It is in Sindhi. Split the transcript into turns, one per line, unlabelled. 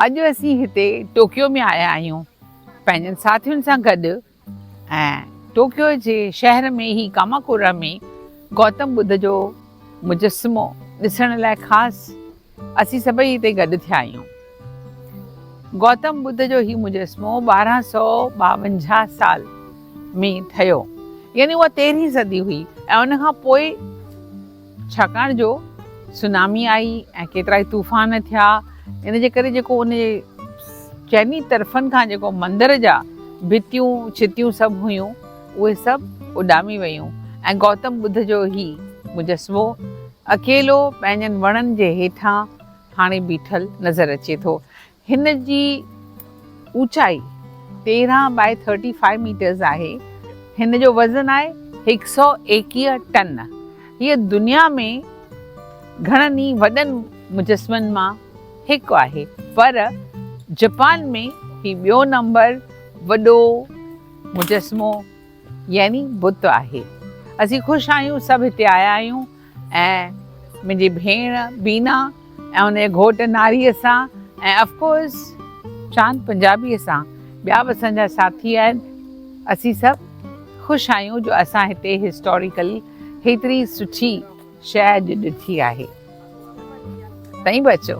اڄ اسين هتي ٽوڪيو ۾ آيا آهيون پنهنجن ساٿين سان گڏ ۽ ٽوڪيو جي شهر ۾ هي ڪاماڪورا ۾ گوتم ٻڌ جو مجسمو ڏسڻ لاء خاص اسين سڀئي هتي گڏ ٿيا آهيون گوتم ٻڌ جو هي مجسمو ٻارهن سو ٻاونجاهه سال ۾ ٺهيو يعني اها تيرهين صدي هئي ۽ ان کان پوء ڇاڪاڻ جو سونامي آئي ۽ ڪيترائي طوفان ٿيا ان جي ڪري جيڪو ان جي چئني طرفن کان جيڪو مندر جا ڀتيون ڇتيون سڀ هيون اهي سڀ اڏامي ويون ۽ گوتم ٻڌ جو هي مجسمو اڪيلو پنهنجن وڻن جي هيٺان هاڻي بيٺل نظر اچي ٿو هن جي اوچائي تيرهن بائي ٿرٽي فائيو ميٽرز آهي. هن جو وزن آهي هڪ سؤ ايڪيهه ٽن. هيء دنيا ۾ گهڻن ئي وڏن مجسمن مان هڪ آهي پر جپان ۾ هي ٻيو نمبر وڏو مجسمو يعني بت آهي. اسين خوش آهيون سڀ هتي آيا آهيون ۽ منهنجي ڀيڻ بينا ۽ ان جي گهوٽ ناريء سان ۽ اف ڪورس چاند پنجابيء سان ٻيا به اسان جا ساٿي آهن اسين سڀ خوش آهيون جو اسان هتي هسٽوريڪل هيتري سٺي شيء اڄ ڏٺي آهي تئين به اچو.